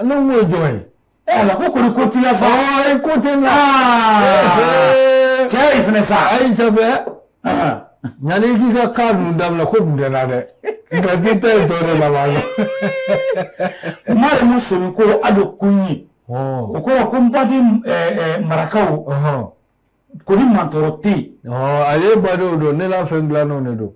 N ko ye jɔn ye ɛ ko kɔni ko tila sa ye ko tɛ na cɛ ye fana sa a ye sɛ yanani k'i ka kanu daminɛ ko tun tɛ na dɛ nka k'i ta ye tɔ de laban na kuma ye mun sɔmi ko a bɛ kun ye o ko ko n baden marakaw ko ni mantɔɔrɔ tɛ yen a ye badenw don ne n'a fɛn dilannenw de don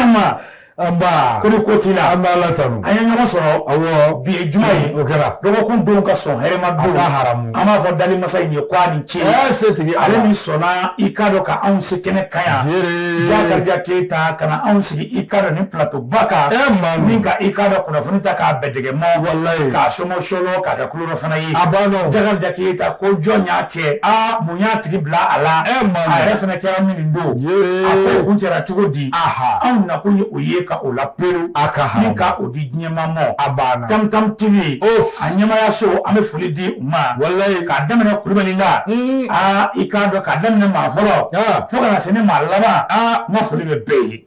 ma nba ko ni ko t'i la an b'Ala tanu an ye ɲɔgɔn sɔrɔ awɔ bi ye juma ye o kɛra dɔgɔkun don ka sɔn hɛrɛma don ka haramu an b'a fɔ dali masa in ye ko a ni ce ɛɛ setigi ale min sɔnna i k'a dɔn ka anw se kɛnɛ kan yan ziiri Jakarija Keyita ka na anw sigi i k'a dɔn nin plateau ba kan ɛɛ maa min ka i k'a dɔn kunnafoni ta k'a bɛɛ dɛgɛ mɔ walayi k'a sɔmɔ sɔlɔ k'a kɛ kulo fana ye a banna o. Jakarija Keyita ko jɔn y'a kɛ Aa! mun y'a tigi bila a la E ma a yɛrɛ fana kɛra min nin don Yee. a ko kuncɛra cogo di Aha. anw nakun ye o ye ka o la perew A ka haramu. ni ka o di diɲɛmaa ma A banna. tam tam tv Of. a ɲɛmaya so an bɛ foli di u ma Walayi. k'a daminɛ kulubali la Mm. aa i k'a dɔn k'a daminɛ maa fɔlɔ Ah. fo ka na se ne maa laban Ah. n ka foli bɛ bɛɛ ye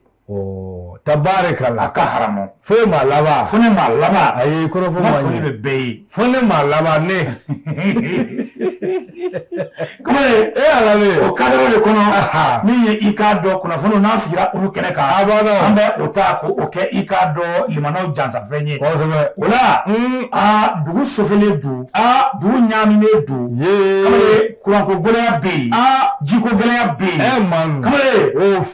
tabarikala ka haramu fo ye maa laban fo ne maa laban a ye kɔrɔfɔ ma foli bɛ bɛɛ ye fo ne maa laban ne kuma wala o cadre de kɔnɔ min ye i k'a dɔn kunnafoni n'a sigira olu kɛnɛ kan a b'a dɔn an bɛ o ta ko o kɛ i k'a dɔn limanaw jansafɛn ye kosɛbɛ o la aa dugu sofelen don aa dugu ɲaaminen don kamalen kuranko gɛlɛya bɛ yen aa jiko gɛlɛya bɛ yen kamalen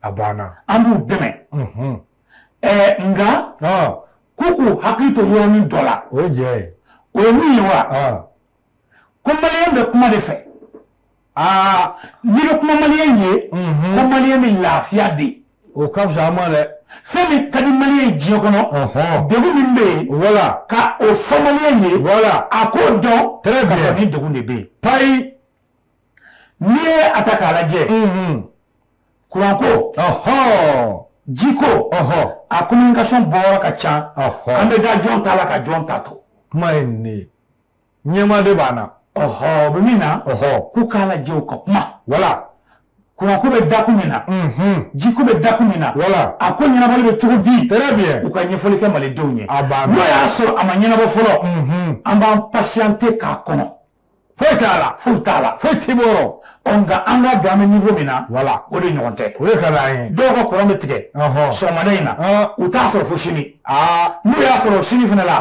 a banna an b'u dɛmɛ nka k'u k'u hakili to yɔrɔnin dɔ la o jɛ ye o ye mun ye wa ko malien bɛ kuma de fɛ aa ni bɛ kuma malien ye ko malien min lafiya de ye o ka fisa an ma dɛ fɛn min ka di malien ye diɲɛ kɔnɔ degun min bɛ yen wala ka o fɔ malien ye wala a k'o dɔn très bien ni degun de bɛ yen payi N'i ye a ta k'a lajɛ kuranko jiko a communication bɔra ka ca an bɛ da jɔn ta la ka jɔn ta to kuma ye nin ɲɛma de banna a bɛ min na k'u k'a lajɛ u ka kuma wala kuranko bɛ dakun min na jiko bɛ dakun min na wala a ko ɲɛnabɔli bɛ cogo di u ka ɲɛfɔli kɛ malidenw ye a n'o y'a sɔrɔ a ma ɲɛnabɔ fɔlɔ an b'an patienter k'a kɔnɔ foyi t'a la foyi t'a la foyi t'i bolo nka an k'a dɔn a bɛ niveau min na wala o de ɲɔgɔn tɛ o de ka d'an ye dɔw ka kuran bɛ tigɛ sɔgɔmada in na u t'a sɔrɔ fo sini n'u y'a sɔrɔ sini fana la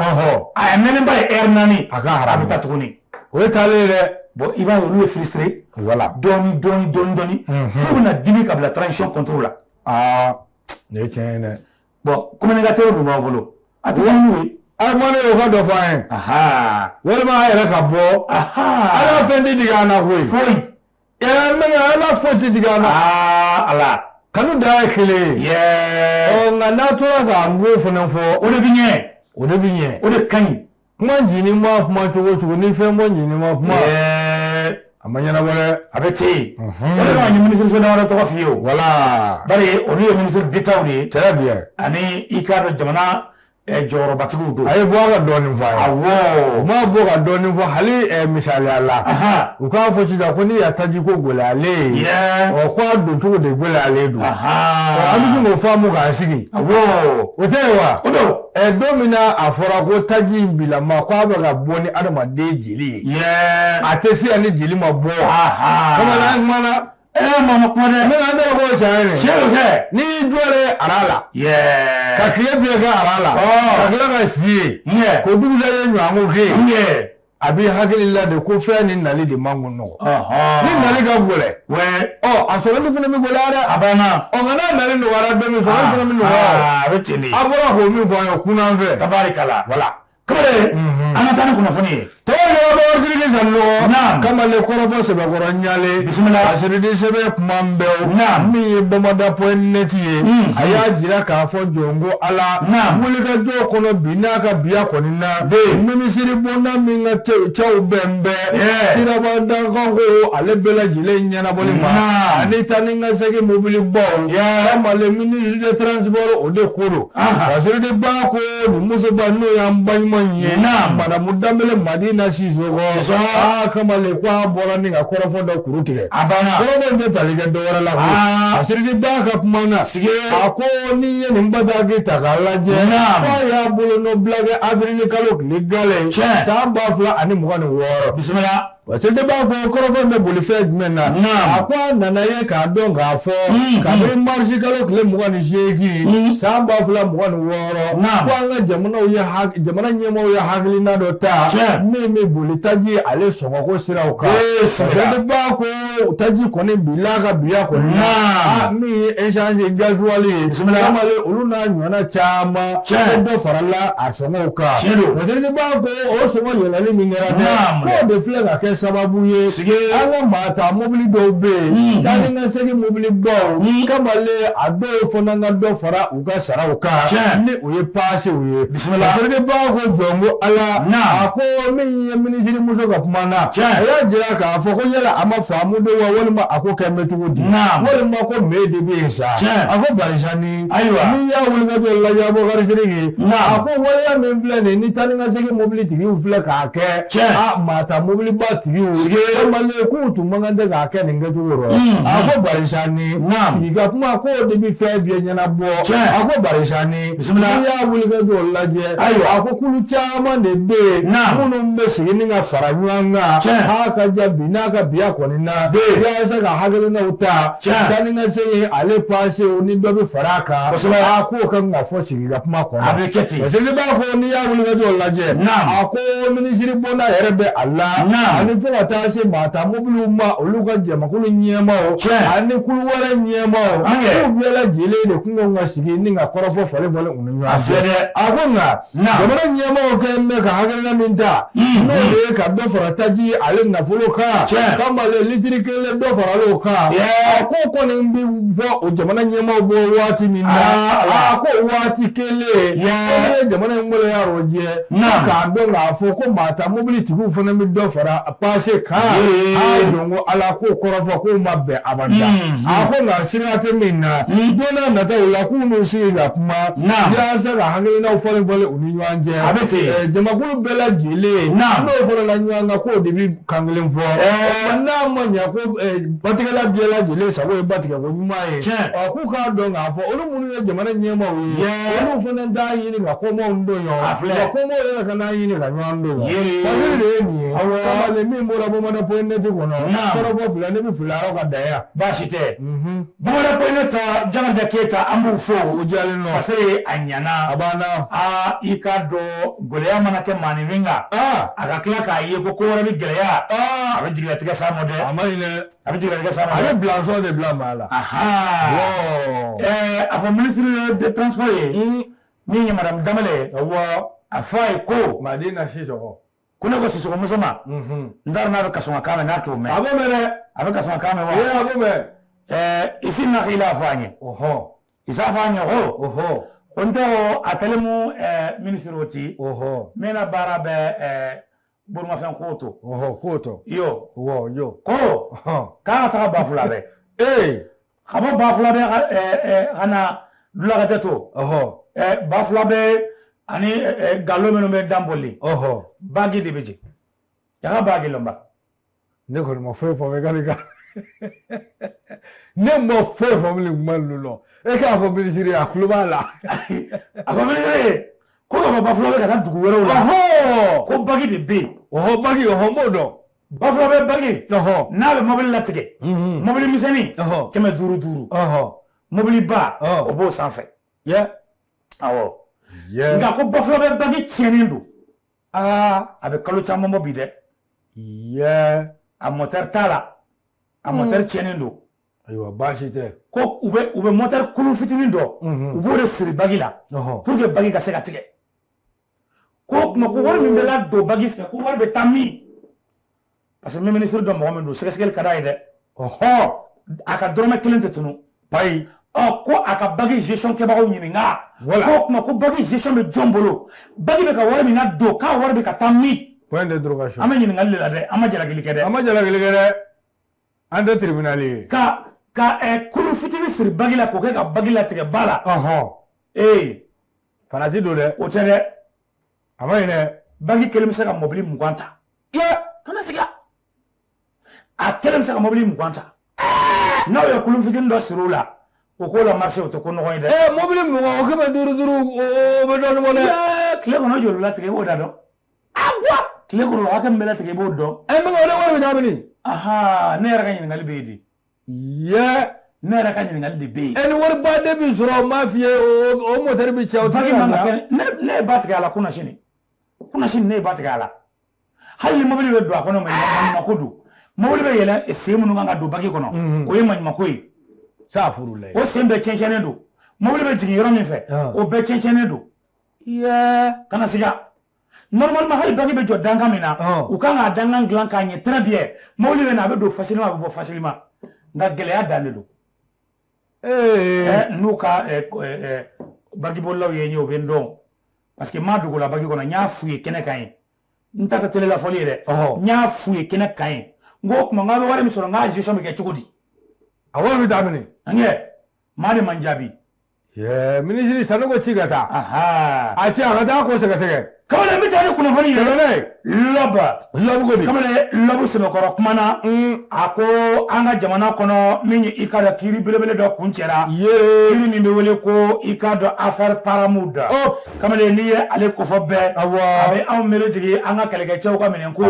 a ye mɛnɛba ye ɛri naani a ka haramu a bɛ taa tuguni o ye taalen ye dɛ bɔn i b'a ye olu bɛ frustré wala dɔɔni dɔɔni dɔɔni dɔɔni fo u bɛna dimi ka bila transition contre la aa nin ye tiɲɛ ye dɛ bɔn kokaw tun b'a bolo a tɛ a ma ne ka dɔ fɔ ye walima a yɛrɛ ka bɔ ala fɛn tɛ digi an na koyi foyi ala foyi tɛ digi an na ala kanu da ye kelen ye nka n'a tora k'an ko fana fɔ o de bɛ ɲɛ o de bɛ ɲɛ o de ka ɲi kuma ncini ma kuma cogo cogo ni fɛn bɔ ncini ma kuma ɛɛ a ma ɲɛnabɔ dɛ a bɛ ten yen o de kama n ye minisiriso damadɔ tɔgɔ f'i ye o wala bari olu ye minisiri detaw de ye très bien ani i k'a dɔn jamana eh, jɔyɔrɔbatigiw don a ye bɔ a ka dɔɔnin fɔ a ye awɔ u ma bɔ ka dɔɔnin fɔ hali eh, misali la ahan u k'a fɔ sisan ko n'i y'a taji ko gɛlɛyalen ye yɛ ɔ ko a don cogo de gɛlɛyalen don ɔ an bɛ ahan se k'o faamu k'an sigi awɔ o tɛ wa o don Ɛ don min na a fɔra ko taji in bila ma ko a bɛ ka bɔ ni adamaden jeli ye a tɛ se yan ni jeli ma bɔ bamanan manamana kuma dɛ mɛ an tɔgɔ ko cɛ ye cɛ bɛ kɛ n'i y'i jɔ de aran la ka tile bɛɛ kɛ aran la ka tila ka si ye ko dugujɛ ye ɲɔgɔn ko ke ye A b'i hakili la de ko fɛn ni nali de man nɔgɔ ni nali ka gɛlɛn a sɔrɔli fana bɛ gɛlɛya dɛ a bɛ na ɔ nka n'a nali nɔgɔyara bɛ min sɔrɔ fana bɛ nɔgɔya a bɛ ten a bɔra ko min fɔ ye kunnan fɛ tabarikala wala kamalen an ka taa ni kunnafoni tɔ ye sanɔgɔ kamalen kɔrɔfɔ sɛbɛnkɔrɔ ɲalen bisimila fasiridi sɛbɛn kuma bɛ na min ye bamada point net ye a y'a jira k'a fɔ jɔn ko ala wulikajɔ kɔnɔ bi n'a ka biya kɔni na minisiri bonda min ka cɛw bɛnnen bɛ sirabada ko ale bɛɛ lajɛlen ɲɛnabɔli ma ani taa ni ka segin mobili baw kamalen minisiri de transport o de ko don fasiridi ba ko nin musoba n'o y'an baɲuman ye madamu danbele madina sisoko aa kamalen ko a bɔra ni ka kɔrɔfɔ dɔ kuru tigɛ kɔrɔfɔ in tɛ tali kɛ dɔwɛrɛ la fasiridi ba ka kuma na a ko n'i ye nin bataki ta k'a lajɛ k'a y'a bolonɔbila kɛ avrili kalo tile gale san ba fila ani mugan ni wɔɔrɔ bisimila wasaden b'a ko kɔrɔfɔ in bɛ boli fɛn jumɛn na a ko a nana ye k'a dɔn k'a fɔ kabini marisi kalo tile mugan ni seegin san ba fila mugan ni wɔɔrɔ ko an ka jamanaw ye jamana ɲɛmɔgɔw ye hakilina dɔ ta min bɛ boli taji ale sɔngɔko siraw kan wasaden b'a ko o taji kɔni bi la ka biya kɔni na a min ye ɛsansi gazuwali ye kamalen olu n'a ɲɔgɔnna caman caman dɔ farala a sɔngɔw kan wasaden b'a ko o sɔngɔ yɛlɛli min kɛra dɛ k'o de filɛ ka kɛ sababu ye an ka maata mobili dɔw bɛ yen taa ni ka segin mobili baw kamalen a dɔw fana ka dɔ fara U ka saraw kan n'o ye pasew ye bisimila ko jɔn ko ala a ko min ye minisiri muso ka kuma na a y'a jira k'a fɔ ko yala a ma famu don wa walima a ko kɛ mɛtigiw di walima ko mɛ de bɛ yen sa a ko barisa ni ayiwa min y'a wulikajɔ lajɛbɔsiri a ko waleya min filɛ nin ni tan ni ka segin mɔbili tigi filɛ k'a kɛ a maa ta mobiliba tigi k'u tun man kan dɛ k'a kɛ nin kɛcogo a ko barisa ni sigi ka kuma ko de bɛ fɛn bɛɛ ɲɛnabɔ a ko barisa n'i y'a wulikajɔ lajɛ a ko kulu caman de bɛ yen minnu bɛ sigi ni ka fara ɲɔgɔn kan ha ka ja bi n'a ka biya kɔni na yasa ka hakilinaw ta taa ni ka se ale pase ni dɔ bɛ fara a kan a k'o ka fɔ sigi ka kuma a kɔnɔ, a bɛ kɛ ten, parce que n'i b'a fɔ n'i y'a wulikajɔ lajɛ, naamu, a ko minisiribonda yɛrɛ bɛ a la, naamu, ani fo ka taa se maa ta mobiliw ma olu ka jamakulu ɲɛmaaw, tiɲɛ, ani kulu wɛrɛ ɲɛmaaw, an kɛ, k'u bɛɛ lajɛlen de kun kan ka sigi ni ka kɔrɔfɔ falen falen u ni ɲɔgɔn cɛ, a filɛ dɛ, a ko nka, naamu, jamana ɲɛmaaw kɛlen bɛ ka hakilina min ta, unhun, n'o de ye ka dɔ fara taji ale nafolo kan, tiɲɛ, k'a ma litiri kelen dɔ faral'o kan a ko kɔni bɛ fɔ o jamana ɲɛmaaw bɔ waati min na a ko waati kelen ko n'i ye jamana in waleya rɔjɛ k'a dɔn k'a fɔ ko maa ta mobili tigiw fana bɛ dɔ fara a pase kan a jɔn ko ala k'o kɔrɔfɔ k'o ma bɛn abada a ko nka siga tɛ min na don nataw la k'u n'u sigi ka kuma yaasa ka hakilinaw falen falen u ni ɲɔgɔn cɛ jamakulu bɛɛ lajɛlen n'u farala ɲɔgɔn kan k'o de bɛ Kan kelen fɔ n'a ma ɲɛ ko batigɛla bɛɛ lajɛlen sago ye ba tigɛ ko ɲuman ye k'u k'a dɔn k'a fɔ olu minnu ye jamana ɲɛmaaw ye olu fana d'a ɲini ka ko don ko yɛrɛ ka n'a ɲini ka ɲɔgɔn don de ye nin ye kamalen min bɔra bɔ ne tɛ kɔnɔ filɛ ne bɛ fili ka da baasi tɛ Bamanan ko ne taa jalaja keyita an b'u fo u ja se a ɲana a banna aa i k'a dɔn gɛlɛya mana kɛ maa ni min a ka tila k'a ye ko ko wɛrɛ bɛ gɛlɛya a bɛ jigilatigɛ sa ma dɛ a ma a bɛ jigin sa a bɛ bilaso de bila maa la a fɔ ministre de transport ni madame Dembele a fɔ a ye ko Madina si ko ne ko Sisɔkɔ muso ma n t'a dɔn n'a bɛ kasɔnkakan mɛn n'a t'o mɛn a b'o mɛn dɛ a bɛ kasɔnkakan mɛn wa a b'o mɛn ɛɛ i si na kila fɔ an ye i s'a fɔ an ye ko ko n tɛ o a tɛlen mu ɛɛ minisiri o ti mɛn na baara bɛ ɛɛ bolimafɛn koto koto yo yo ko k'a ka taga Bafulabɛ ee ka bɔ bafulabɛ ka na dulakajɛ to bafulabɛ ani nkalon minnu bɛ dan boli baki de bɛ jɛ ya ka baki lɔnba ne kɔni ma foyi fɔ k'ale ka ne ma foyi fɔ bilen kuma ninnu lɔ e k'a fɔ minisiri a tulo b'a la a fɔ minisiri ko ka bɔ bafulabɛ ka taa dugu wɛrɛw la ko baki de bɛ yen baki n b'o dɔn bafulabɛ bagi n'a bɛ mobili latigɛ mobili misɛnnin kɛmɛ duuru duuru mobiliba o b'o sanfɛ awɔ nka ko bafulabɛ bagi tiɲɛnen don aa a bɛ kalo caman bɔ bi dɛ a mɔtɛri t'a la a mɔtɛri tiɲɛnen don ayiwa baasi tɛ ko u bɛ u bɛ mɔtɛri kulu fitinin dɔ u b'o de siri bagi la pour que bagi ka se ka tigɛ ko kuma ko wari min bɛ ladon bagi fɛ ko wari bɛ taa min parce que min minisiri don mɔgɔ min don sɛgɛsɛgɛli ka d'a ye dɛ ɔhɔ a ka dɔrɔmɛ kelen tɛ tunun bayi ɔ ko a ka bagi gestion kɛbagaw ɲininka ko kuma ko bagi gestion bɛ jɔn bolo bagi bɛ ka wari min ladon k'a wari bɛ ka taa min point d'interrogation an bɛ ɲininkali de la dɛ an ma jalakili kɛ dɛ an ma jalakili kɛ dɛ an tɛ tribunal ye ka ka kulu fitini siri bagi la k'o kɛ ka bagi latigɛ ba la ee farati don dɛ o tɛ dɛ a ma ɲi dɛ bagi kelen bɛ se ka mɔbili mugan ta ye kana siga a kelen bɛ se ka mɔbili mugan ta n'aw ye kulu fitinin dɔ siri o la o k'o la marché o tɛ ko nɔgɔn ye dɛ. ɛɛ mɔbili mugan o kɛmɛ duuru duuru o bɛ dɔɔnin bɔ dɛ. tile kɔnɔ joli latigɛ i b'o da dɔn. a bɔ. tile kɔnɔ hakɛ min bɛ latigɛ i b'o dɔn. ɛ n bɛ ka o de wari bɛ taa mini. ne yɛrɛ ka ɲininkali bɛ yen de. Yeah! ne yɛrɛ ka ɲininkali de bɛ yen. ɛ ni wariba de bɛ sɔrɔ n b'a f'i ye o o mɔtɛri bɛ cɛn o tɛ se ka dilan. ne ne ye ba tigɛ a la kunasini kunasini ne ye ba tigɛ a la hali ni mobili bɛ don a kɔnɔ maɲumako don mobili bɛ yɛlɛn sen minnu kan ka don baki kɔnɔ mhm. o ye maɲumako ye. safurulayi. o sen bɛɛ cɛncɛnnen don mobili bɛ jigin yɔrɔ min fɛ ah. o bɛɛ cɛncɛnnen don. kana siga normalement hali baki bɛ jɔ dankan min na u kan k'a dankan dilan k'a ɲɛ très bien mobili bɛ na a bɛ don facilement a bɛ bɔ facilement nka gɛlɛya dan de don n'u ka bagibolilaw ye n ye o bɛ n dɔn parce que n ma dogo u la bagi kɔnɔ n y'a f'u ye kɛnɛ kan yen n ta tɛ telela fɔli ye dɛ n y'a f'u ye kɛnɛ kan yen n ko kuma n k'a bɛ wari min sɔrɔ n k'a gestion bɛ kɛ cogo di a wari bɛ taa mini nka maa de ma n jaabi ye minisiri sanɔgɔ ci ka taa a ci a ka taa ko sɛgɛsɛgɛ kamalen bɛ taa ni kunnafoni ye tɛmɛna ye lɔba lɔbu ko di kamalen lɔbu sɛbɛkɔrɔ kuma na mm. a ko an ka jamana kɔnɔ min ye i k'a dɔn kiri belebele dɔ kuncɛra kiri min bɛ wele ko i k'a dɔn afɛri paramount kamalen n'i ye ale kofɔ bɛɛ a bɛ anw miiri jigin an ka kɛlɛkɛcɛw ka minɛn ko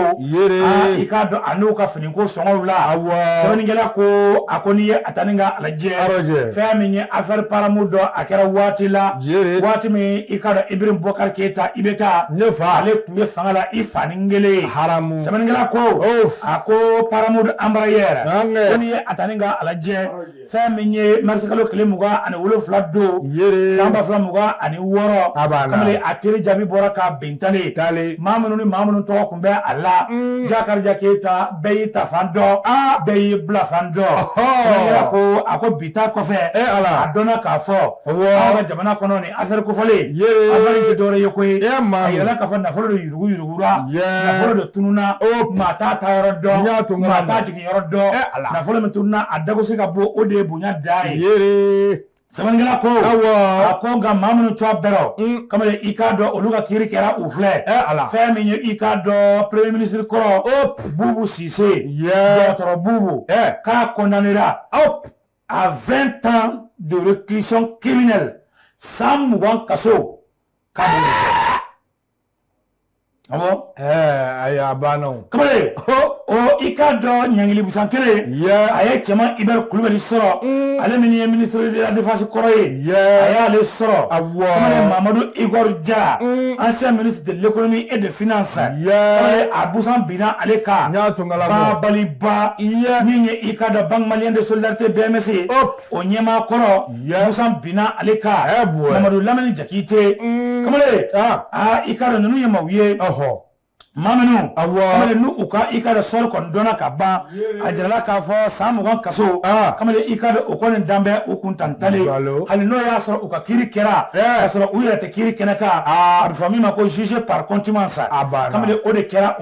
i k'a dɔn a n'u ka fini ko sɔngɔw la sɛbɛnnikɛla ko a ko n'i ye a ta n'i k'a lajɛ fɛn min ye afɛri paramount don a kɛra waati la waati min i k'a dɔn iburahima bubakari keyita IBK ne fa ale tun bɛ fanga la i fa ni kelen haramu sɛbɛnnikɛla ko a ko paramount embraer ko n'i ye a ta n'i k'a lajɛ fɛn min ye marisikalo tile mugan ani wolonwula don san ba fila mugan ani wɔɔrɔ kamalen a kiri jaabi bɔra ka bintalen maa minnu ni maa minnu tɔgɔ tun bɛ a la mm. jakarija keyita bɛɛ y'i taafan dɔn ah. bɛɛ y'i bilafan dɔn ko a ko bi ta kɔfɛ eh, a dɔnna k'a fɔ an ka jamana kɔnɔ nin afɛri kofɔlen afɛri tɛ dɔwɛrɛ ye koyi eh, a yirala k'a fɔ nafolo de yurugu yurugu nafolo de tununna oh. maa t'a taa yɔrɔ dɔn maa t'a jigin yɔrɔ dɔn eh, nafolo min tununna a dago se ka bɔ o de ye bonya da ye sɛbɛnnikɛla ko a ko nka maa minnu tɔgɔ b'a rɔ mm. kamalen i k'a dɔn olu ka kiri kɛra u filɛ eh, fɛn min ye i k'a dɔn premier ministre kɔrɔ bubu sise dɔgɔtɔrɔ bubu eh. k'a condamnera à 20 ans de réclusion criminelle san mugan kaso k'a Ɔwɔ ayi a banna kɔrɔ i k'a dɔn ɲgli musan kelen a ye cɛ i bɛ kulubali sɔrɔ ale min ye minidifasi kɔrɔ ye a y'ale sɔrɔ a mamadu i ja an se mini delielekolonin e de f sa a busan binna ale ka tun baliba min ye i ka da bamanan de so lase bɛɛmese o ɲɛmaa kɔrɔ busan binna ale kan mamadu lamini jakite mm. kamalen ah. aa i k'a dɔn ninnu ye maaw ye maa minnu kamalen n'u u ka i k'a dɔn sort kɔni dɔnna ka ban a jirala k'a fɔ san mugan kaso ah. kamalen i k'a dɔn o kɔni dan bɛ u kun tantalen hali n'o y'a sɔrɔ u ka kiri kɛra k'a sɔrɔ u yɛrɛ tɛ kiri kɛnɛ kan ah. a bɛ fɔ min ma ko jugé par contumace kamalen o de kɛra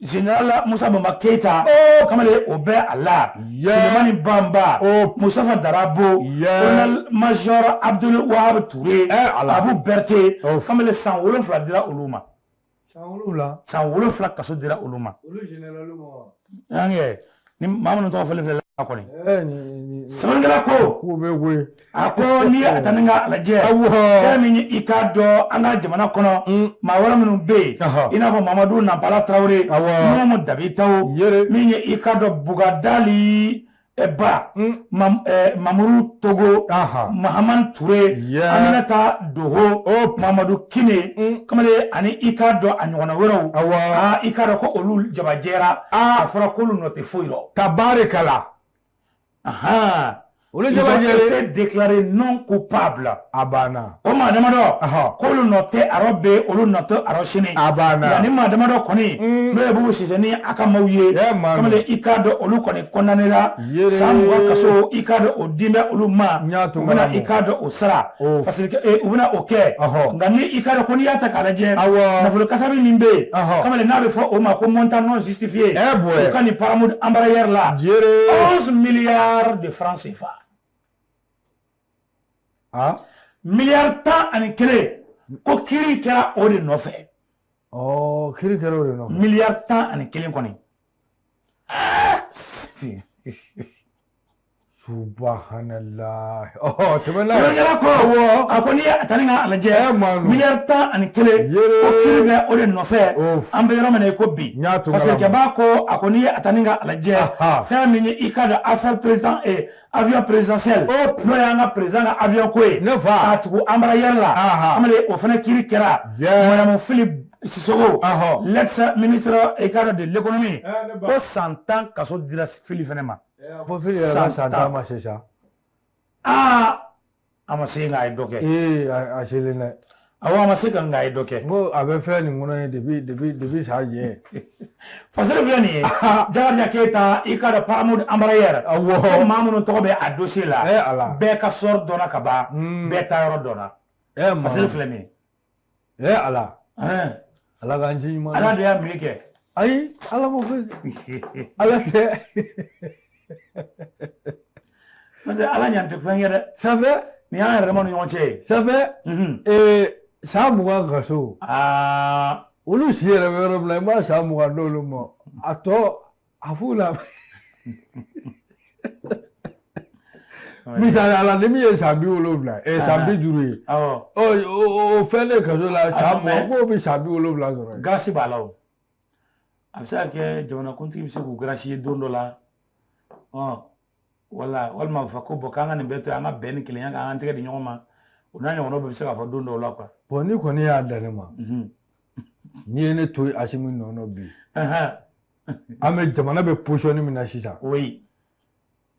Général musa banba keyita kamalen o bɛ a la sulemani banba musitafa darabo colonel major abudul wahabu ture abu berete kamalen san wolonwula dira olu ma san wolonwula kaso dira olu ma ni maa minnu tɔgɔ fɔlen filɛ la kɔni sɛbɛnnikɛla ko k'u bɛ we a ko n'i ye a ta n'i k'a lajɛ fɛn min i k'a dɔn an ka jamana kɔnɔ mm. maa wɛrɛ minnu bɛ yen i n'a fɔ mamadu nanpala tarawele nuhun dabitawo min ye i k'a dɔn bugadali ba mm. Eh, mamuru togo mahaman ture aminata doho oh. mamadu kine mm. kamalen ani i k'a dɔn a ɲɔgɔnna wɛrɛw ah, i k'a dɔn ko olu jabajɛra ah. a fɔra k'olu nɔ tɛ foyi rɔ tabarikala ils ont été déclarés non coupables a banna o maa damadɔ k'olu nɔ tɛ a rɔ bi olu nɔ tɛ a rɔ sini nka ni maa damadɔ kɔni mm. n'o ye bubu sise ni a ka maaw ye kamalen i k'a dɔn olu kɔni kɔndanera san mugan kaso i k'a dɔn o dilen bɛ olu ma u bɛna i k'a dɔn o sara parce que eh, u bɛna o kɛ nka ni i k'a dɔn ko n'i y'a ta k'a lajɛ nafolo kasabi min bɛ yen kamalen n'a bɛ fɔ o ma ko montant non justifié o ka nin Paramount Embraer la 11 milliards de francs CFA. a miliyari tan ani kelen ko kiri kɛra o de nɔfɛ ɔ kiri kɛra o de nɔfɛ miliyari tan ani kelen kɔni subahanalahi ɔ tɛmɛna sɛbɛnkɛla ko awɔ a ko n'i ye a ta ni ka a lajɛ Ɛ, maa ninnu. miliyari tan ani kelen Yee. ko kiri kɛra o de nɔfɛ Of. an bɛ yɔrɔ min na i ko bi N y'a to parce que kalama. jaba ko a ko n'i ye a ta ni ka a lajɛ Aha. fɛn min ye i k'a dɔn affaire président avion présidentiel n'o y'an ka président ka avion ko ye ne fa k'a tugu Embraer la amadu o fana kiri kɛra madamu Fili Sissoko l'ex ministre i k'a dɔn de l'économie ko san tan kaso dira Fili fana ma fo Fili yɛrɛ ka san tan ma se sa aa a ma se nka a ye dɔ kɛ ee a a selen dɛ awɔ a ma se ka nka a ye dɔ kɛ n ko a bɛ fɛn nin kɔnɔ ye depuis depuis depuis sa jɛ fasere filɛ nin ye jakarija keyita i k'a dɔn Paramount Embraer Awɔ. ko maa minnu tɔgɔ bɛ a dossier la Eh, ala. bɛɛ ka sort dɔnna ka ban Hmm. bɛɛ taayɔrɔ dɔnna ɛ fasere filɛ nin ye e ala ala k'an ci ɲuman ala de y'a mi kɛ ayi ala ma foyi ala tɛ n'o tɛ ala ɲan tɛ fɛn kɛ dɛ ça fait nin y'an yɛrɛ dama ni ɲɔgɔn cɛ ye ça fait san mugan kaso olu si yɛrɛ bɛ yɔrɔ min na i b'a san mugan d'olu ma a tɔ a f'u la misali la ni min ye san bi wolonwula ɛ san bi duuru ye o fɛn de kaso la san mugan k'o bɛ san bi wolonwula sɔrɔ garasi b'a la o a bɛ se ka kɛ jamanakuntigi bɛ se k'u garasi ye don dɔ la wala walima a bɛ fɔ ko bɔn k'an ka nin bɛɛ to an ka bɛn ni kelenya kan an tɛgɛ di ɲɔgɔn ma o n'a ɲɔgɔnnaw bɛɛ bɛ se ka fɔ don dɔw la quoi bɔn n'i kɔni y'a dan ne ma n'i ye ne to asimi nɔ na bi an bɛ jamana bɛ position min na sisan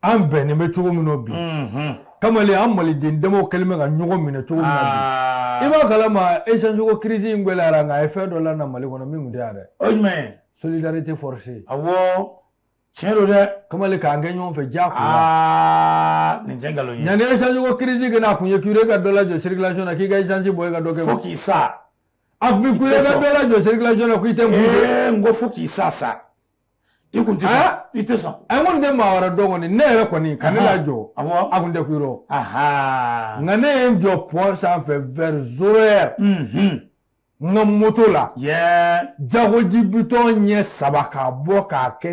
an bɛnnen bɛ cogo min na bi kamalen an maliden damaw kɛlen bɛ ka ɲɔgɔn minɛ cogo min na bi ah. i b'a kalama esanjiko kirisi in gwɛlɛyara nka a ye fɛn dɔ lana mali kɔnɔ min tun tɛ yan dɛ o jumɛn ye solidarité forcée awɔ tiɲɛ don dɛ kamalen k'an kɛ ɲɔgɔn fɛ diyagoya ah, nin tɛ nkalon ye yanni esanjiko kirisi ka na a kun ye kure ka dɔ lajɔ circulation na k'i ka esansi bɔ i ka dɔ kɛ fo k'i sa a tun bɛ kule ka dɔ lajɔ circulation na ko i tɛ n kun fɛ. n ko fo k'i sa sa i kun tɛ sɔn i tɛ sɔn. a ko n tɛ maa wɛrɛ dɔn kɔni ne yɛrɛ kɔni ka ne lajɔ a kun tɛ ku yɔrɔ nka ne ye n jɔ pɔn sanfɛ vers zéro heure n ka moto la jagoji bitɔn ɲɛ saba k'a bɔ k'a kɛ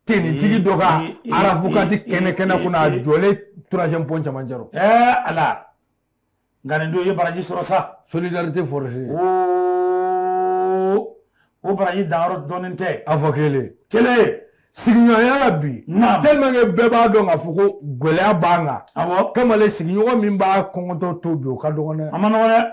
tenitigi dɔ ka arafukati kɛnɛ kɛnɛ kunna a jɔlen troisième pont cɛmancɛ rɔ. ala. nka nin don i ye baraji sɔrɔ sa solidarité forcée oo o baraji danyɔrɔ dɔnnen tɛ a fɔ kelen kelen sigiɲɔgɔnya la bi Naam. tellement que bɛɛ b'a dɔn k'a fɔ ko gɛlɛya b'an kan awɔ kamalen sigiɲɔgɔn min b'a kɔngɔtɔ to bi o ka dɔgɔn dɛ a ma nɔgɔ dɛ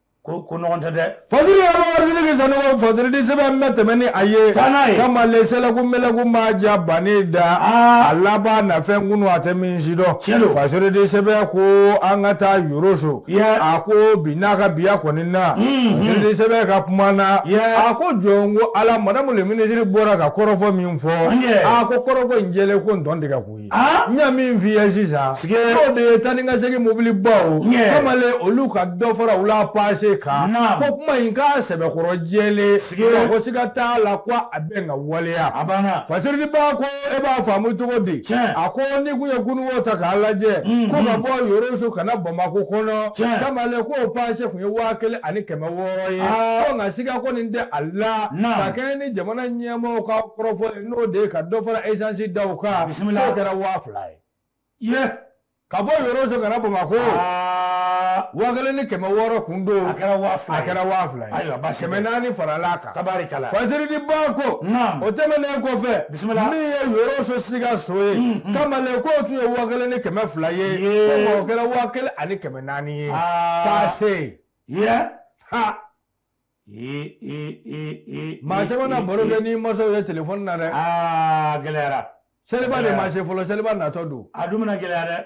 ko ko ɲɔgɔn tɛ dɛ fasiri yɛrɛ ma warisini k'i sanni ko fasiridi sɛbɛn bɛ tɛmɛ ni a ye Taa n'a ye. kamalen sɛlɛku mɛlɛku ma ja bani da Aa. a laban nafɛn kunu a tɛ min si dɔn Tiɲɛ don. fasiridi sɛbɛn ko an ka taa yoroso Yeah. a ko bi n'a ka biya kɔni na Mhm. fasiridi sɛbɛn ka kuma na Yeah. a ko jɔn ko ala madamu le minisiri bɔra ka kɔrɔfɔ min fɔ An ye. a ko kɔrɔfɔ in jɛlen ko ntɔn tigɛ kun n y'a min f'i ye sisan n'o de ye taa ni ka segin mobili baw kamalen olu ka dɔ fara u la paase kan ko kuma in k'a sɛbɛkɔrɔ jɛlen ko siga t'a la ko a bɛ ka waleya fasiridi ba ko e b'a faamu cogo di a ko n'i kun ye kunun ko ta k'a lajɛ mm-hmm. ko ka bɔ yoroso ka na bamakɔ kɔnɔ kamalen k'o paase kun ye waa kelen ani kɛmɛ wɔɔrɔ ye ah. ko nka siga kɔni tɛ a la ka kɛɲɛ ni jamana ɲɛmɔgɔw ka kɔrɔfɔ n'o de ye ka dɔ fara esansi daw kan bisimila n'o kɛra waa fila ye ye ka bɔ yoroso ka na bamakɔ aa waa kelen ni kɛmɛ wɔɔrɔ kun don a kɛra waa fila ye. kɛra waa fila ye Ayiwa, baasi tɛ. kɛmɛ naani farala a kan tabarikala fasiridi ba ko Naam. o tɛmɛnen kɔfɛ Bisimila. min ye yoroso sikaso ye kamalen k'o tun ye waa kelen ni kɛmɛ fila ye Ye. ko nka o kɛra waa kelen ani kɛmɛ naani ye Aa. paase ye ye ha Ee, ee, ee, ee, Maa caman ee, na ee, baro ee. kɛ ni masaw ye telefɔni na dɛ Aa gɛlɛyara. seliba de Gɛlɛya. ma se fɔlɔ seliba natɔ don A dun bɛna gɛlɛya dɛ.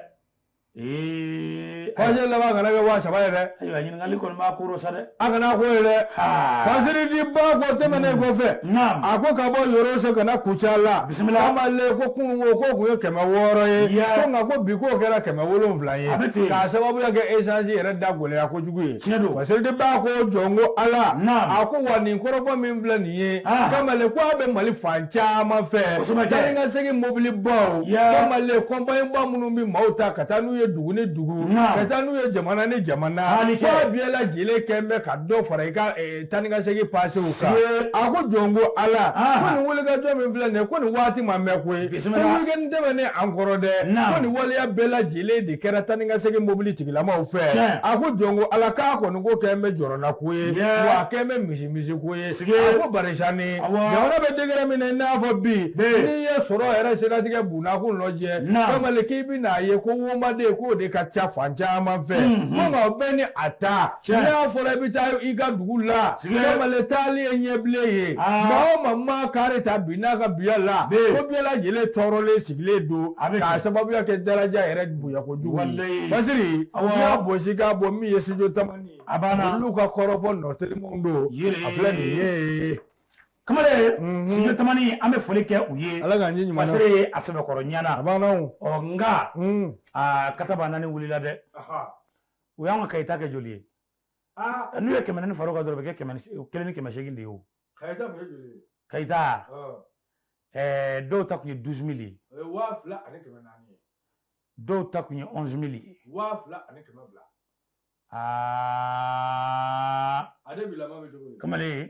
Ee. fasiri laban kana kɛ waa saba ye dɛ Ayiwa ɲininkali kɔni b'a kɔrɔ sa dɛ. a kana k'o ye dɛ Haa. fasiridi ba ko tɛmɛnen kɔfɛ Naam. a ko ka bɔ yoroso ka na kucala Bisimila. kamalen ko kunun ko k'o kun ye kɛmɛ wɔɔrɔ ye Ya. ko nka ko bi k'o kɛra kɛmɛ wolonwula ye A bɛ ten. k'a sababuya kɛ esansi yɛrɛ da gɛlɛya kojugu jugu ye fasiridi ba ko jɔn ko ala a ko wa nin kɔrɔfɔ min filɛ nin ye kamalen ko a bɛ mali fan caman fɛ taa ni ka segin mobili baw kamalen kɔnpaɲi ba minnu bɛ maaw ta ka taa n'u ye dugu ni dugu ka taa n'u ye jamana ni jamana ko a bɛɛ lajɛlen kɛ bɛ ka dɔ fara i ka taa ni ka segin pasew kan a ko jɔn ko ala ko nin wulikajɔ min filɛ nin ye ko nin waati ma mɛn koyi ko weekend tɛmɛnen an kɔrɔ dɛ ko nin waleya bɛɛ lajɛlen de kɛra taa ni ka segin mobili tigilamaw fɛ a ko jɔn ko ala k'a kɔni ko kɛn bɛ jɔrɔna ko ye wa a kɛn bɛ misi misi ko ye a ko barisani jamana bɛ degré min na i n'a fɔ bi n'i ye sɔrɔ yɛrɛ siratigɛ bunakun lajɛ kamalen k'i bɛna a ye ko womaden k'o de ka ca fan caman fɛ ko nka o bɛɛ ni a ta n'a fɔra i bɛ taa i ka dugu la kamalen taali ye ɲɛbilen ye maa o maa kari ta bi n'a ka biya la ko bɛɛ lajɛlen tɔɔrɔlen sigilen don k'a sababuya kɛ daraja yɛrɛ bonya kojugu fasiri i y'a bɔsi k'a bɔ min ye studio tamani a banna olu ka kɔrɔfɔ nɔ telimanw don a filɛ nin ye kamalen studio tamani an bɛ foli kɛ u ye ala k'an cɛ ɲuman na a sɛbɛkɔrɔ ɲana a nka kata' naani wulila dɛ u y'an ka kayi taa kɛ joli ye n'u ye kɛmɛ naani fara o kan dɔrɔn o bɛ kɛ kelen ni kɛmɛ seegin de ye o kayi taa dɔw ta tun ye douze mille ye dɔw ta tun ye onze mille ye aa kamalen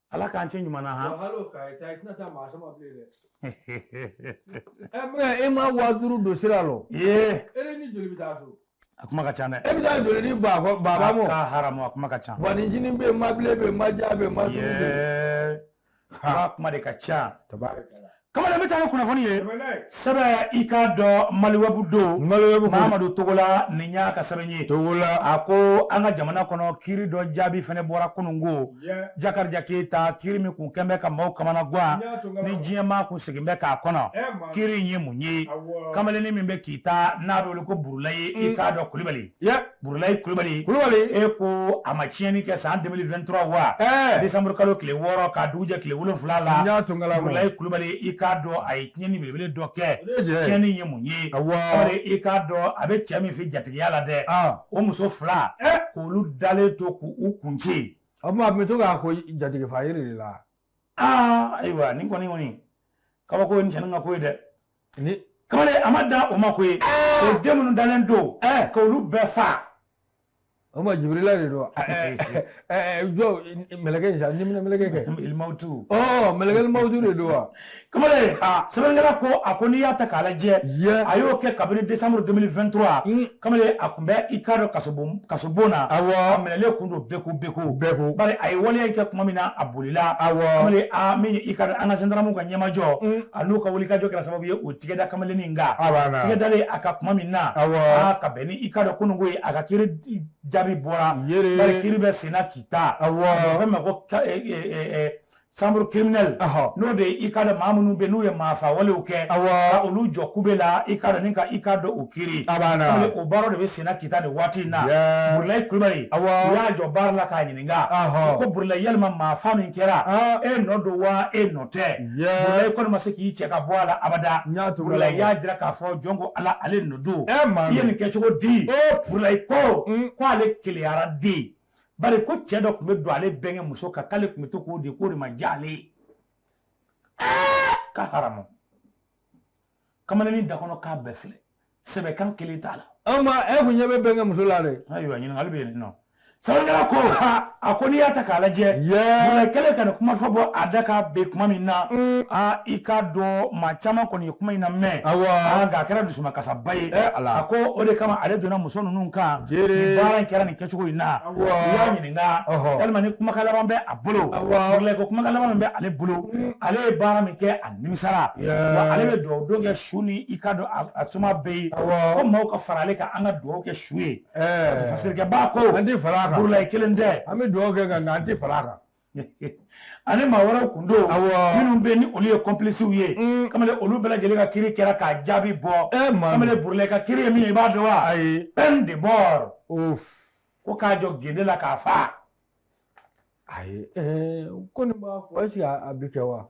ala k'an cɛ ɲuman na han e ma waa duuru don sira la a kuma ka ca dɛ e bɛ taa joli ni baaba mɔ k'a haramu a kuma ka ca wa ni jinin bɛ yen mabile bɛ yen maja bɛ yen masiri bɛ yen a kuma de ka ca kamalen bɛ taa ni kunnafoni ye sɛbɛ i k'a dɔn maliwɛbu don mamadu togola nin y'a ka sɛbɛn ye togola a ko an ka jamana kɔnɔ kiri dɔ jaabi fɛnɛ bɔra kunun ko jakarija keyita kiri min kun kɛn bɛ ka maaw kamana gan ni diɲɛ maa kun segin bɛ k'a kɔnɔ kiri in ye mun ye kamalennin min bɛ kita n'a bɛ wele ko burulayi i k'a dɔn kulibali Burulayi kulibali e ko a ma tiɲɛni kɛ san 2023 wa décembre kalo tile wɔɔrɔ k'a dugu jɛ tile wolonwula la n y'a to n ka la Burulayi kulibali i k'a dɔn a ye tiɲɛni belebele dɔ kɛ tiɲɛni ye mun ye bari i k'a dɔn a bɛ cɛ min fɛ jatigiya la dɛ o muso fila k'olu dalen to k'u kun ci o tuma a tun bɛ to k'a ko jatigifa yiri de la aa ayiwa nin kɔni kɔni kabako ye nin cɛnin ka ko ye dɛ kamalen a ma dan o ma koyi o den minnu dalen to k'olu bɛɛ fa o ma jibirila de don jɔ mɛlɛkɛ in sa ni minɛ mɛlɛkɛ kɛ mawutu ɔ mɛlɛkɛ mawutu de don wa kamalen sɛbɛnkɛla ko a ko n'i y'a ta k'a lajɛ a y'o kɛ kabini décembre 2023 kamalen a kun bɛ i k'a dɔn kasobon na awɔ a minɛlen kun don beko beko beko bari a ye waleya in kɛ kuma min na a bolila awɔ kamalen a min i k'a dɔn an ka zandaramuw ka ɲɛmajɔ mm. a n'u ka wulikajɔ kɛra sababu ye u tigɛ da kamalen nin kan tigɛ dalen a kan kuma min na awɔ ka bɛn ni i k'a dɔn kununko ye a ka kiri jaabi bɔra yɛrɛ bari kiri bɛ senna kita awɔ fɛn ma ko chambre criminelle n'o de i k'a dɔn maa minnu bɛ n'u ye maafa walew kɛ ka olu jɔ kube la i k'a dɔn ni ka i k'a dɔn u kiri o baara de bɛ senna kita nin waati in na burulayi kulubali u y'a jɔ barre la k'a ɲininka ko burulayi yalima maafa min kɛra e nɔ don wa e nɔ tɛ burulayi kɔni ma se k'i cɛ ka bɔ a la abada burulayi y'a jira k'a fɔ jɔn ko ala ale nɔ don i ye nin kɛ cogo di burulayi ko k'ale keleyara den bari ko cɛ dɔ tun bɛ don ale bɛnkɛ muso kan k'ale tun bɛ to k'o de k'o de ma diya ale ye ka haramu kamalennin da kɔnɔ k'a bɛɛ filɛ sɛbɛ kan kelen t'a la an ma e kun ɲɛ bɛ bɛnkɛ muso la dɛ ayiwa ɲininkali bɛ yen nɔ sɛbɛkɛla ko a ko n'i y'a ta k'a lajɛ burulayi kɛlen ka nin kuma fɔ bɔ a da k'a bɛn kuma min na a i k'a dɔn maa caman kɔni ye kuma in namɛn nka a kɛra dusumakasaba ye a ko o de kama ale donna muso ninnu kan nin baara in kɛra nin kɛ cogo in na u y'a ɲininka yalima ni kumakan laban bɛ a bolo ko kumakan laban min bɛ ale bolo mm. ale ye baara min kɛ a nimisara wa ale bɛ dugawu don kɛ su ni i k'a dɔn a somaa bɛɛ ye ko maaw ka fara ale kan an ka dugawu kɛ su ye fasirikɛba ko an tɛ fara a kan burulayi kelen tɛ an bɛ dugawu kɛ nka an tɛ fara a kan ani maa wɛrɛw kun don minnu bɛ ni olu ye complices ye mm. kamalen olu bɛɛ lajɛlen ka kiri kɛra k'a jaabi bɔ eh, kamalen burulayi ka kiri ye min ye i b'a dɔn wa ayi peine de mort ko k'a jɔ gende la k'a fa ayi eh, ko nin b'a fɔ est-ce que a bɛ kɛ wa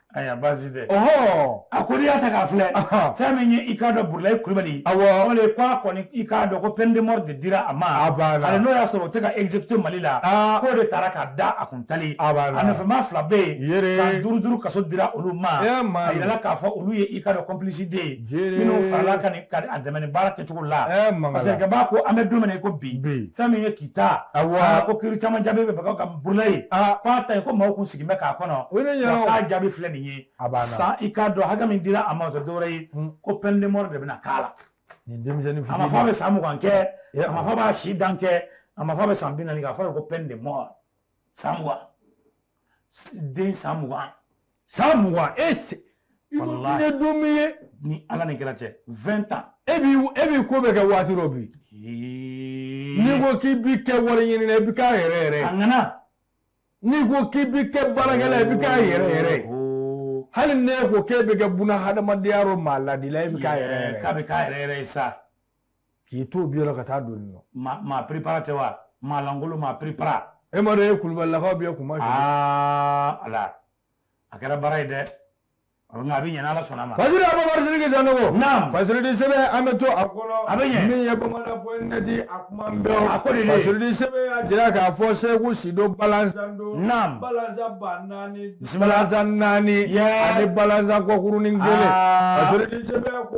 Ayiwa baasi tɛ a ko n'i y'a ta k'a filɛ fɛn min ye i k'a dɔn burulayi kulubali k'a kɔni i k'a dɔn ko peine de mort de dira a ma n'o y'a sɔrɔ o tɛ ka exécuter mali la k'o de taara ka da a kun tali a nɔfɛmaa fila bɛ yen san duuru duuru kaso dira olu ma a yirala k'a fɔ olu ye i k'a dɔn complicité minnu farala ka a dɛmɛ baara kɛcogo la parce que b'a ko an bɛ don min i ko bi fɛn min ye kita ko kiri caman jaabi bɛ Burulayi k'a ta ye ko maaw kun sigilen bɛ k'a kɔnɔ k'a jaabi filɛ nin ye san i k'a dɔn hakɛ min dira a ma o tɛ dɔwɛrɛ ye ko peine de mort de bɛna k'a la nin denmisɛnnin fitini a ma fɔ a bɛ san mugan kɛ a ma fɔ a b'a si dan kɛ a ma fɔ a bɛ san bi naani kɛ a fɔra ko peine de mort san mugan den san mugan san mugan e se ne don min ye ni ala ni kira cɛ vingt ans e b'i e b'i ko bɛ kɛ waati dɔ bi n'i ko k'i bi kɛ wariɲinina i bi k'a yɛrɛ yɛrɛ a ŋana n'i ko k'i bi kɛ baarakɛla i bi k'a yɛrɛ yɛrɛ ye hali n'e ko k'e bɛ kɛ buna hadamadenya yɔrɔ maa ladila e bɛ k'a yɛrɛ yɛrɛ k'a bɛ k'a yɛrɛ yɛrɛ ye sa k'i to bi yɔrɔ ka taa don nin nɔ maa prepara tɛ wa maa lankolon maa prepara e ma dɔn e kulubalilakaw bɛ kuma su ala a kɛra baara ye dɛ a bɛ a bɛ ɲɛ n'ala sɔnna a ma fasiri abubakar sidiki sanogo naam fasiridi sɛbɛn an bɛ to a kɔnɔ a bɛ ɲɛ min ye bamada point net a kuma bɛɛ a ko de fasiridi sɛbɛn y'a jira k'a fɔ segu sido balanzan don naam balanzan ba naani balanzan naani ani balanzan kɔkurunin kelen fasiridi sɛbɛn ko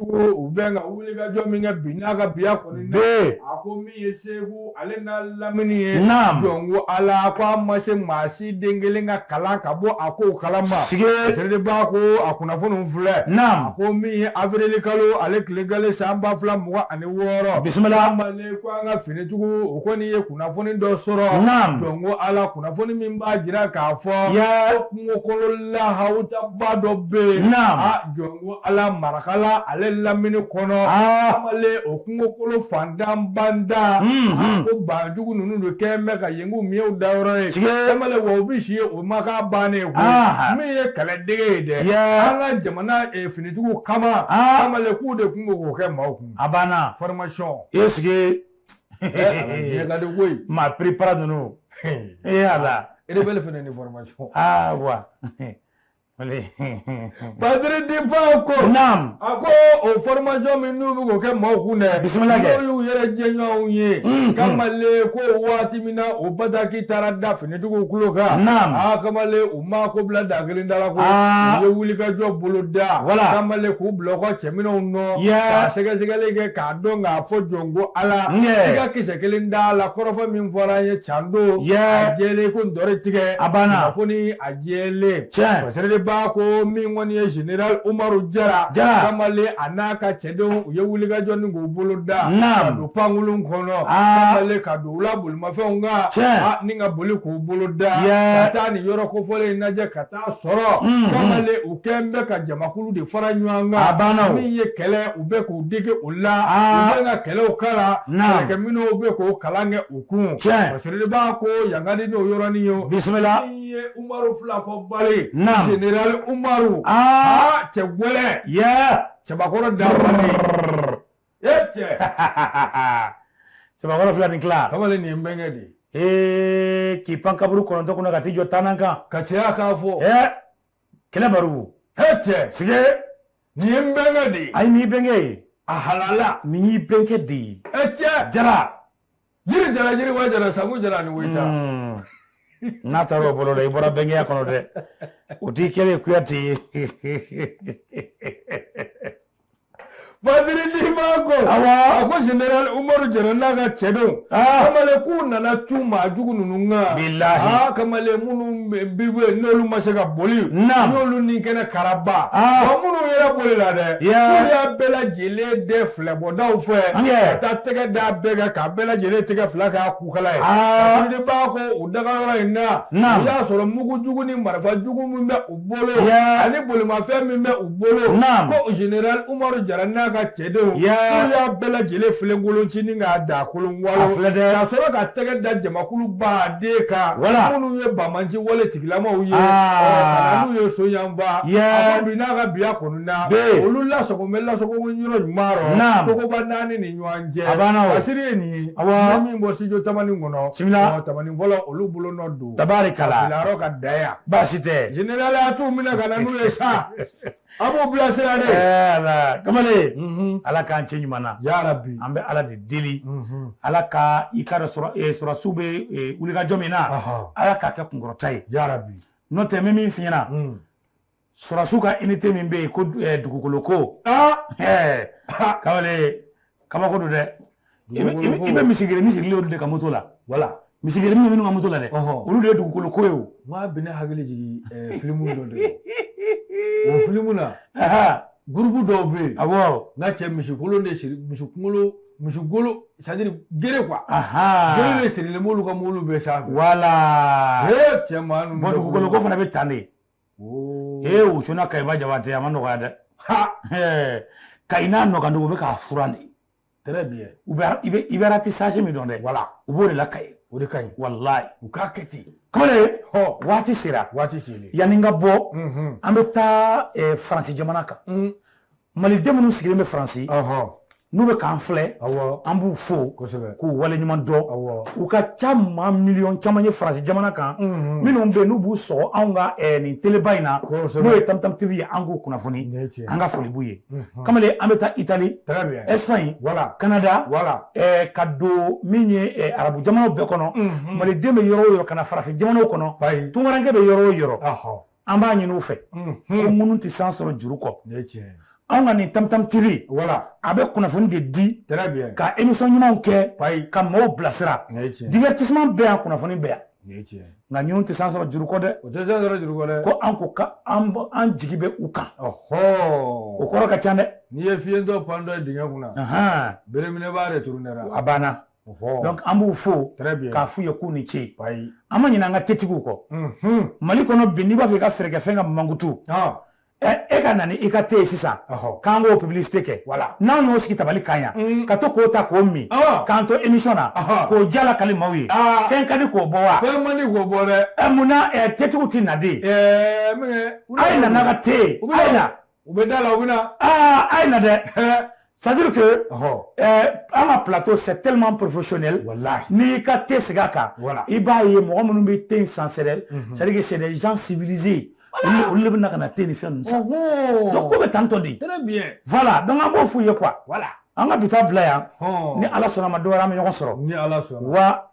u bɛ ka wulikajɔ min kɛ bi n'a ka biya kɔni na a ko min ye segu ale n'a lamini ye jɔn ko ala ko a ma se maa si den kelen ka kalan ka bɔ a ko kala ma siribaa ko a kunnafoni filɛ a ko min ye awirili kalo ale tile galɛ san ba fila mugan ani wɔɔrɔ bisimila kamalen ko an ka finitigiw kɔni ye kunnafoni dɔ sɔrɔ jɔn ko ala kunnafoni min b'a jira k'a fɔ ko kungokolo lahawutaba dɔ bɛ yen a jɔn Ko ala marakala ale lamini kɔnɔ o kungokolo fantanbada ko banjugu ninnu don kɛ bɛ ka yen k'u miw da yɔrɔ ye wa u bɛ si yen o ma bannen min ye kɛlɛdege de an ka jamana finitigiw kama k'u de tun k'o kɛ maaw kun a banna formation est-ce que maa prepara ninnu e y'a la e bɛ fana ni formation wa Badiri di ko a ko o formation min n'u bɛ k'o kɛ maaw kun dɛ bisimila y'u yɛrɛ jɛɲɔgɔnw ye kamalen ko waati min na o bataki taara da finitigiw tulo kan kamalen u ma ko bila da kelen da ko u ye wulikajɔ bolo da wala kamalen k'u bila ka cɛ ninnu nɔ ka sɛgɛsɛgɛli kɛ k'a dɔn k'a fɔ jɔn ko ala siga kisɛ kelen t'a la kɔrɔfɔ min fɔra an ye can don jɛ ko dɔ tigɛ a banna a jɛlen Tiɲɛ. fasɛrɛdenba ko min kɔni ye général Umaru Jara Jara. kamalen a n'a ka cɛdenw u ye wulikajɔ nin k'o bolo da Naam. ka don pankurun kɔnɔ Aa. kamalen ka don u la bolimafɛnw kan Tiɲɛ. a ni ka boli k'o bolo da Yee. ka taa nin yɔrɔ kofɔlen in lajɛ ka taa sɔrɔ Mhm. kamalen u kɛn bɛ ka jamakulu de fara ɲɔgɔn A banna o. kan min ye kɛlɛ u bɛ k'u dege o la Aa. u bɛ ka kɛlɛw kalan Naam. kɛlɛkɛminɛnw bɛ k'o kalan kɛ u kun Tiɲɛ. fasɛrɛdenba ko yankadi n'o yɔrɔnin ye o. bisimila min ye Umaru filafɔbali ye, naamu, Zenerali Umaru, aa, cɛ gɛlɛn, yaa, cɛbakɔrɔ dafalen, e cɛ, cɛbakɔrɔ fila ni tila, kamalen nin ye n bɛnkɛ de ye, ee, k'i pan kaburu kɔnɔntɔn kunna ka t'i jɔ tannan kan, ka cɛya k'a fɔ, ee, kɛlɛ barugu, e cɛ, est-ce que, nin ye n bɛnkɛ de ye, ayi nin y'i bɛnkɛ ye, a halala, nin y'i bɛnkɛ de ye, e cɛ, jara jiri jara jiri wa jara sabu jara ni woyita hmm. n'a taara o bolo la i bɔra bɛnkɛya kɔnɔ dɛ o t'i kɛlen kuyate ye Faziri Dima ko a ko general Umaru Jara n'a ka cɛdenw ah. kamalen k'u nana cun maa jugu ninnu kan bilahi ah, kamalen minnu bɛ yen n'olu ma se ka boli n'olu ni kɛnɛ karaba ah. wa minnu yɛrɛ bolila dɛ k'u y'a bɛɛ lajɛlen dɛ filɛbɔdaw fɛ ka taa tɛgɛ da bɛɛ kan ka bɛɛ lajɛlen tɛgɛ fila k'a kukala ye a b'a ko o dagayɔrɔ in na i y'a sɔrɔ mugu jugu ni marifa jugu min bɛ u bolo ani bolimafɛn min bɛ u bolo ko general umaru jara n'a ka cɛdenw y'a bɛɛ lajɛlen filenkolon cini k'a da kolon walo ka sɔrɔ ka tɛgɛ da jamakuluba de kan minnu ye bamanci wale tigi lamaw ye ka na n'u ye so yan wa ye a bi n'a ka biya kɔnɔna bɛ olu la bɛ la ɲuman ma koba naani ni ɲɔgɔn cɛ aseri ye nin ye a min bɔ sij tamani kɔnɔ tamani fɔla olu bolo nɔ don tabarikala ka da baasi tɛ general a t'u minɛ ka na n'u ye sa A b'u bilasira dɛ kamalen ala k'an cɛ ɲuman na ya rabi an bɛ ala de deli ala ka i ka sɔrɔdasiw bɛ wulikajɔ min na ala k'a kɛ kunkɔrɔta ye ya rabi n'o tɛ min min fiɲɛna sɔrɔdasiw ka unité min bɛ yen ko dugukoloko kamalen kabako don dɛ i bɛ misigerenin sigilen olu de ka moto la wala misigerenin bɛ minnu ka moto la dɛ olu de ye dugukoloko ye o n k'a bɛ ne hakili jigin filimu dɔ de la o filimu na gurupu dɔw bɛ yen awɔ n ka cɛ misikolo de siri misi kunkolo misi golo c'est-à-dire gere quoi gere de sirilen b'olu ka mobili bɛɛ sanfɛ wala ee cɛ maa ninnu bɔn dugukoloko fana bɛ tan de ee u cunna Kayiba Jabate a ma nɔgɔya dɛ kayi n'a nɔkan dugu bɛ k'a furan de très bien u bɛ i bɛ i bɛ ratissage min dɔn dɛ voilà u b'o de la Kayi o de ka ɲi walayi u k'a kɛ ten kamalen hɔ waati sera waati selen yanni n ka bɔ unhun an bɛ taa eh, faransi jamana kan un maliden minnu sigilen bɛ faransi ɔhɔ n'u bɛ k'an filɛ awɔ an b'u fo kosɛbɛ k'u waleɲuman dɔn awɔ u ka ca maa miliyɔn caman ye faransi jamana kan unhun minnu bɛ yen n'u b'u sɔgɔ anw ka eh, nin teleba in na n'o kosɛbɛ ye tamtam tv ye an k'u kunnafoni nin ye tiɲɛ an ka foli b'u ye kamalen an bɛ taa itali Espagne wala Kanada wala ka don min ye arabu jamanaw bɛɛ kɔnɔ maliden bɛ yɔrɔ o yɔrɔ ka na farafin jamanaw kɔnɔ tunkarankɛ bɛ yɔrɔ o yɔrɔ an b'a ɲini u fɛ ko minnu tɛ san sɔrɔ juru kɔ anw ka nin tamtam tv wala a bɛ kunnafoni de di ka émission ɲumanw kɛ ka maaw bilasira divertissement bɛ yan kunnafoni bɛ yan nka ninnu tɛ san sɔrɔ juru kɔ dɛ o tɛ san sɔrɔ juru kɔ dɛ ko an ko an jigi bɛ u kan o kɔrɔ ka ca dɛ n'i ye fiyentɔ pantɔ dingɛ kunna bereminɛbaa de turu nɛrɛ a banna donc an b'u fo k'a f'u ye k'u ni ce an ma ɲinɛ an ka tetigiw kɔ mali kɔnɔ bi n'i b'a fɛ i ka feere kɛ fɛn ka mankutu e ka na ni i ka te ye sisan k'an k'o publicité kɛ n'anw y'o sigi tabali kan yan mm. ka to k'o ta k'o min k'an to émission na k'o diya lakali maaw ye ah. fɛn ka di k'o bɔ wa fɛn man di k'o bɔ dɛ eh, mun na eh, tetigiw tɛ na de eh, a ye na n'a ka te ye a ye na u bɛ da la u bɛ na aa ah, a ye na dɛ C'est à dire que oh. euh, an ka plateau c'est tellement professionnel n'i y'i ka te sigi a kan i b'a ye mɔgɔ minnu bɛ te in san c'est des mhm. c'est à dire que c'est des gens civilisés olu de bɛ na ka na te ni fɛn ninnu san donc ko bɛ tan tɔ de voilà donc an b'o f'u ye quoi an ka bi ta bila yan ni ala sɔnna a ma dɔwɛrɛ an bɛ ɲɔgɔn sɔrɔ wa